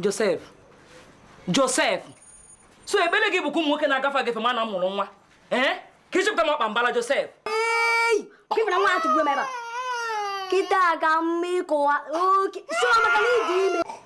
Josef Josef so ebele gị bụkwa ụmụ nwoke na-agafe agafe ma na m mụrụ nwa ee ka ịchepụta m ọkpa mbala Josef kịta ka m ma ịkụwa oke si maka na ị dị ime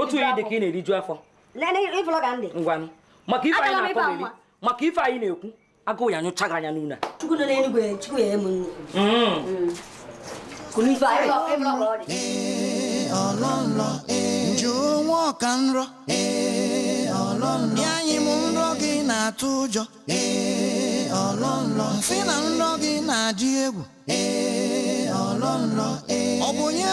otu onye dị ka ị na-eriju afọ ngwanụ maka ife anyị na-akọ na-eri maka ife anyị na-ekwu agụụ ya nyụcha gị anya n'ụlọ Joe nwa ọka nrọ ya anyị m nrọ gị na-atụ ụjọ m sị na nrọ gị na-adị egwu ọ bụ onye